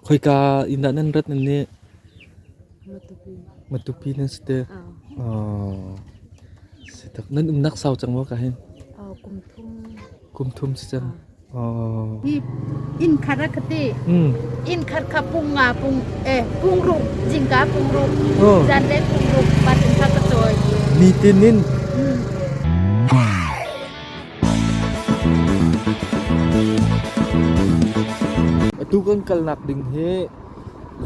Khoika inn dah nan rat nan nih? Matupi nan si te. Si tak. Nan umnak sau cang maw ka hin? Kum thum. Kum thum si cang. Inn khar ka ti. Inn khar ka pung nga pung eh pung ru jingka pung ru. Zan le pung ru patin ka ka choi. Mi tin in Atu kan kalnak ding hi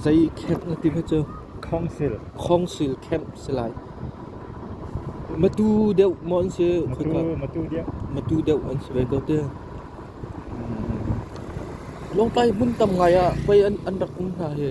zei camp na ti ve cu? Khawngsil camp si lai. Matu deuh maw an si? Matu deuh. Matu deuh an si ve ko ti. Lawngtlai hmun tam ngai ah pei an rak um hna hi.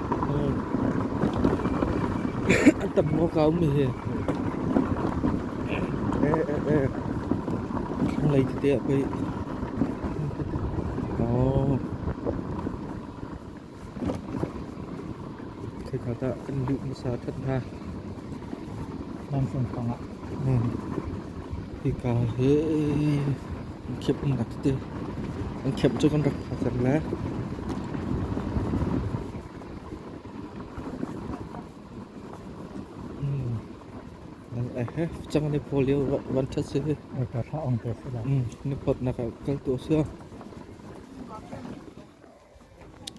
An tam maw ka um hihi? Thlanglei tete ah pei. Oh. Kheikha tah kan luh hmasa that hna. Nan fung pangah. Hika hi. An khamh an rak ti. An khamh cu kan rak tha cang le. Mm. Nang eh he cang ni paw lio van that si. Ai ka thla ang te se la. Mm. Ni phot nak kal tu si.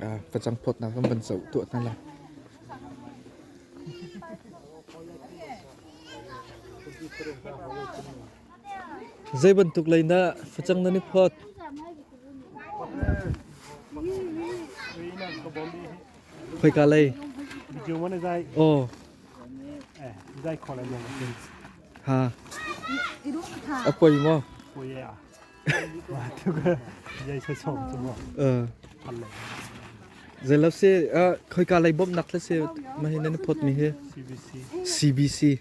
Ah, ka chang phot nak kan ban sau tu na la. Zei bantuk lei dah facang nan i phawt? Khoika lei? Aw. Ha. A poi maw? Zelap se khoika lei bom nak se ma hi nan phot mi hi CBC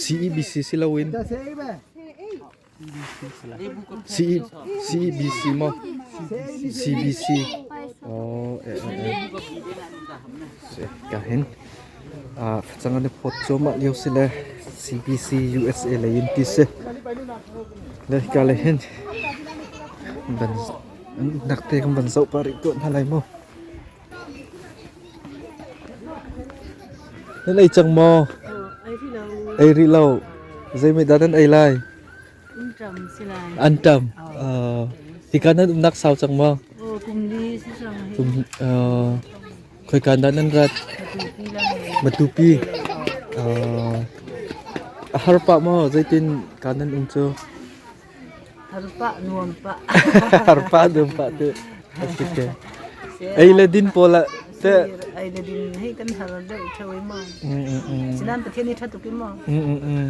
CEBC si loin CEBC mo CBC oh eh eh ka hin Facang an i phawt cuahmah lio si le CBC USA lei in ti si. Le hika lei hin an uknak te kan van zoh pah rih tuah hna lai mu. Nan ei cang maw? Ei rih lo. Zei mei dah nan ei lai? An tam. Uh, hika nan umnak sau cang maw? Kum, uh, khoika nan nan rat? Matupi. Uh, a har pa maw? Zeitin ka nan um cu? Harpa nuam pa. Harpa nuam pa te. Asik ke. Ei le din pola te. Ai le din hei kan har deuh thawai ma. Sinan pathian ni thatuki ma. Mm mm mm.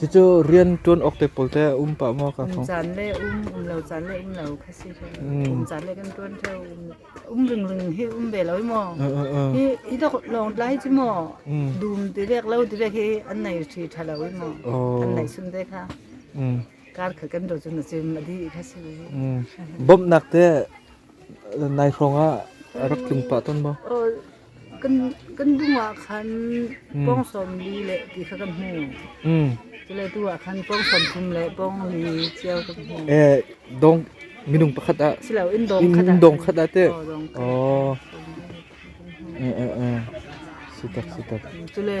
Cucu rian ṭuan awk te pawl te a um pah maw kaa thawng? Caan le um um lo, caan le um lo kha si hin. Kum caan le kan ṭuan theo um um ring ring hi um ve lo i maw. Hi hi dok lawng tlai ci maw. Dum ti vek lo ti vek hi an nei ṭhi ṭha lo i maw. An nei sun te kha. Kar kha kan ro cun a cim a di kha si. Bawmhnak te nai hrawng ah rak tlung pah ton maw? Kan dum ah khan pawng sawmli le ti kha kan hmu. Cule tu ah khan pawng sawm thum le pawng li cio kan hmu. Eh, dong minung pakhat ah Siloin dawng in khat ah dong khat ah te. Oh, dawng khat Oh. Eh eh eh. Sitak sitak. Cule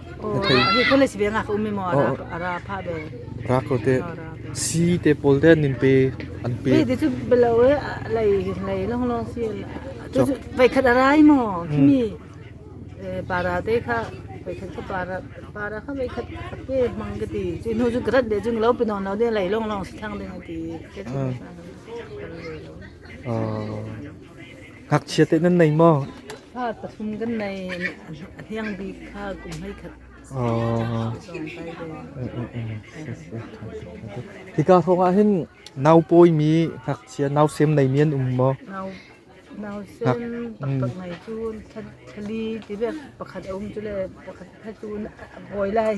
Ra ko teh. Si te pawl te nin pe an pe. Ve cu belo e lei lei long long si. Tu vai khat arai mo kimi para te kha vai khat ka para para kha vai khat ke mang ke ti chi nu ju grat de jung lo pinon lo de lei long long si thang de ti. Ah. Ngakchia te nan nei maw? Ha, pathum kan nei. Hniang bik kha kum hei khat. Hika hrawngah hin nau pawimi ngakchia nau sem nei mi an um maw? Nau nau sem pakngai cu thali ti pakhat a um cu le pakhat phetu a hawi lai.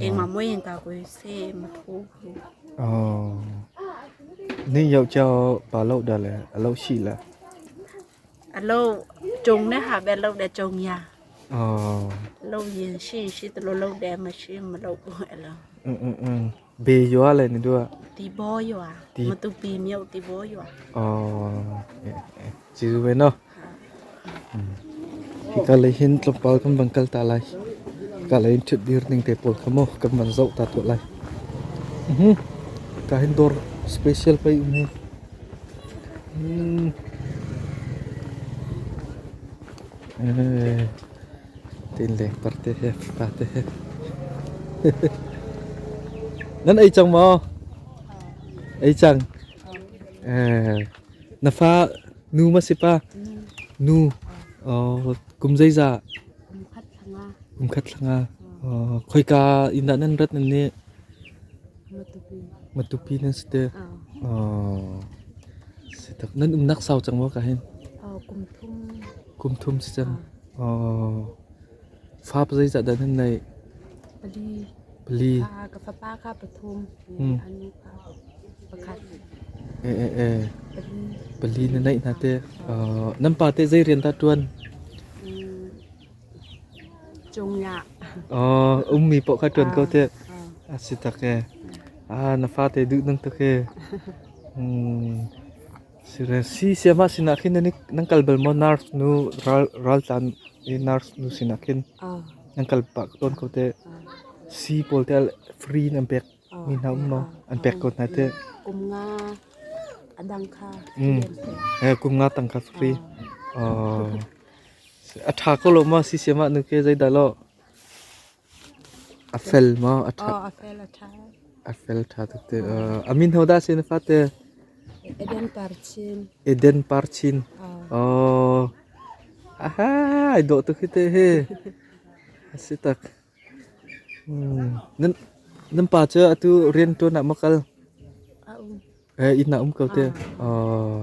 Engmah mui in ta kui se ma thu hu. Ni yau chao pa lo dah le a lo si le. A lo chung ne ha be lo de chung ya. Lo yin shin shi tu lo de ma shi ma lo bu e lo. Beyua le na duah? Tibaw-yua. Matupi Myo Tibaw-yua. Oh, Jiu ve no. Hika le hin tlawmpal kan van kal ta lai. Hika le hin thut dir ning te pawl kha mo kan van zau ta tu lai. Mhm. Hika hin dor special pa um hi. Mm. Eh. Tiin lengpar te he, fa te he. nan ei cang maw? Ei cang. Eh, na fa nu ma si pa? Nu. Oh, kum zeiza? Kumkhat thanga. Kumkhat thanga. Oh, khoika inn dah nan rat nan nih? Matupi. Matupi nan si te. Ah. Oh. Si tak. Nan umnak sau cang maw ka hin? Ah, kumthum. Kum thum si cang. Ah. Fap zeicah dah nan naih? Pali. Pali. Ka fapa kha pathum, a nu kha pakhat. Pali. Pali na naih hna te. Nan pa te zei rian dah ṭuan? Cungah. Ummi paoh kha ṭuan ko te. A si tak e. Na fate duh nang tak e. Si siahmah sinah khin nan kal bal maw? Nurse nu, raltlan i nurse nu sinah khin nan kal pah tawn ko teh. Si pawl teh free in an pek mi hna um maw? An pek ko hna teh. Kum nga adang kha free. Kum nga tang kha free. A tha ko lo ma si siahmah nu ke zeidah lo? A fel maw? A ṭha. Oh, a fel a ṭha. A fel ṭha tuk te. Uh, a min ho dah a si na fate? Eden Parchin. Eden Parchin. Oh. oh. Aha, ai dawh tuk hi te hi. A si tak. Hmm. Nan, nan pa cu atu rian ṭuan ah makal? A um. Eh, ina um ko te. Ah. Oh.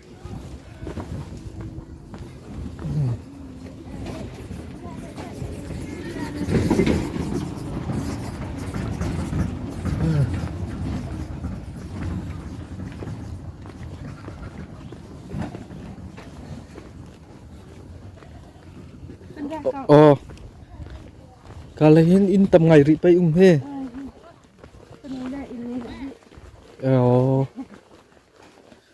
Oh, kalahin in tam ngai ri pai um he. Oh.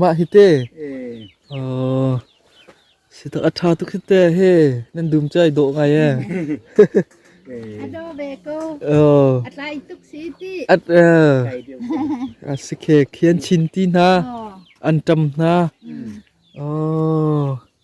Mah hi te si tak a ṭha tuk hi te he nan dum cu ai dawh ngai ee. A daw ve ko. A tlai tuk si ti. A si khe khian chin ti hna. An ṭam hna.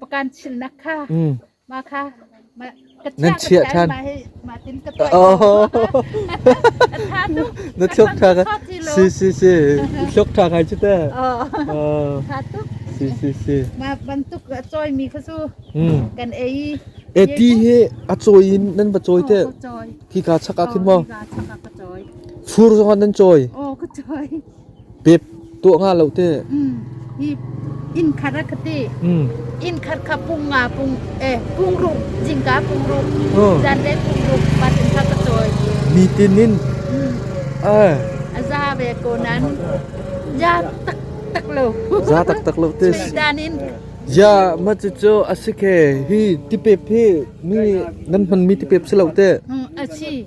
pakan chilnak kha mah kha nan chiah ṭhan na thup ṭha ka si si si hluk ṭha kai cu ta si si si mah bantuk a cawai mi kha cu kan ei e ti he a cawi in nan va cawi te khi ka chak a khin maw fur zong nan cawi o ka cawi Pep tuah nga lo teh. Inn khat a ka ti. Inn khat kha pung nga pung eh pung rup jingka pung rup zan le pung rup pat in kha ka cawi. Mi tin in a za ve ko nan ya tak tak lo. Za tak tak lo tis. Dan in ya ma cu cu a si ke hi tipep hi mi nan hman mi tipep si lo teh. A si.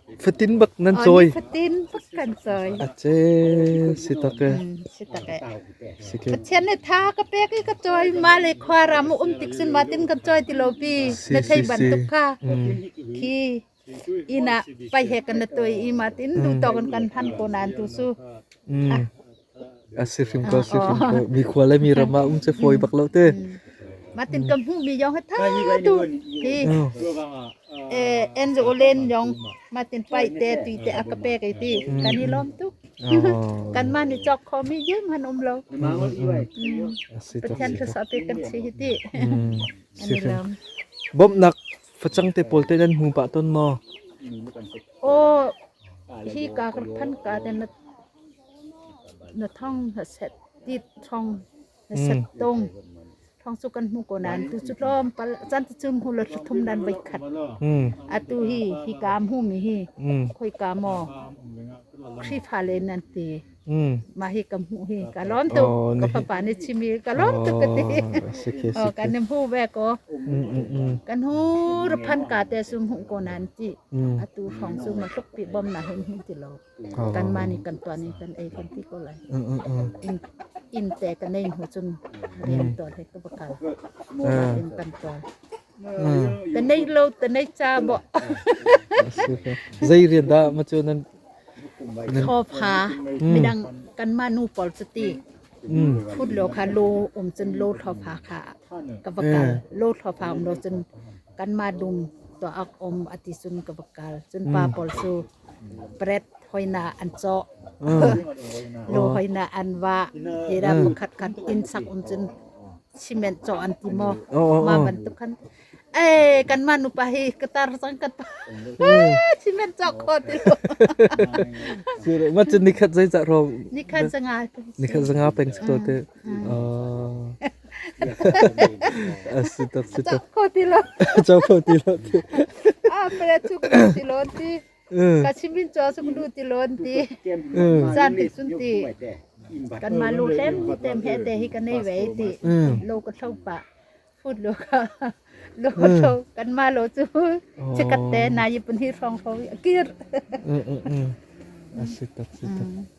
Fatin bak nan cawi. Fatin bak kan cawi. Ace si tak e. Si tak e. Si ke. Pathian ne tha ka pek i ka cawi ma le khwa ram um tik sin ma tin kan cawi ti lo pi. Na thei ban tuk ka. Khi ina pai he kan na toi i ma tin du to kan kan phan ko nan tu su. A si hrim ko, si hrim ko. Mikhua le miram ah um cu fawi bak lo te. Matin ka hmuhmi yong ha tha tu hi eh enzo len yong matin pai te tui te aka pe kai ti kan i lom tuk kan man i chok khomi yem han um lo pathian thasa pe kan si hi ti si hrim bawmnak facang te pawl te nan hmu pa ton mo o hi ka kan phan ka den Na thong na set tit thong na set tung thong cu kan hmu ko nain tu cu tlawmpal chan tu cu hmu lo thum dan voi khat atu hi hi kaam hu mi hi khoi ka maw khrifa le nan ti ma hi kam hu hi ka lom tu ka papa ni chimi ka lom tu ka ti o kan nem hu ve ko kan hu ruphan ka te sum hu ko nan ti atu thong chu ma thuk pi bom na hin hin ti lo kanmah nih kan tuan i kan ei kan ti ko lai inn te kan ei hnu cun riam tuan he ka va kal in kan tuan ta nei lo ta nei cha bo zei rian dah ma cu nan thawpha midang kanmah nu pawl cu ti phut lo kha lo um cun lo thawpha kha ka va kal lo thawpha um lo cun kanmah dum to ak om ati cun ka va kal cun pa pawl cu Pret hoihnak an cawh. Lu hoihnak an vah. Tiram khatkhat inn sak um cun cement cawh an ti maw? Mah bantuk khan eh kanmah nupa hi ka tar cang kan pa cement cawk kho ti lo. Mah cu nikhat zeicah rawng? Nikhat zanga. Nikhat zanga peng to te. A si tak si tak. Cak kho ti lo. Cho kho ti lo ti. Ah pele chu ku ti lon ti. Ka chimin cho su lu ti lon ti. San ti sun ti. Kan ma lu hlem tem he te hi kan nei vei ti. Lo ka thau pa. Phut lo ka. Lo ka thau kan ma lo chu. Che kat te na yipun hi phong phong. Kir. A si tak si tak.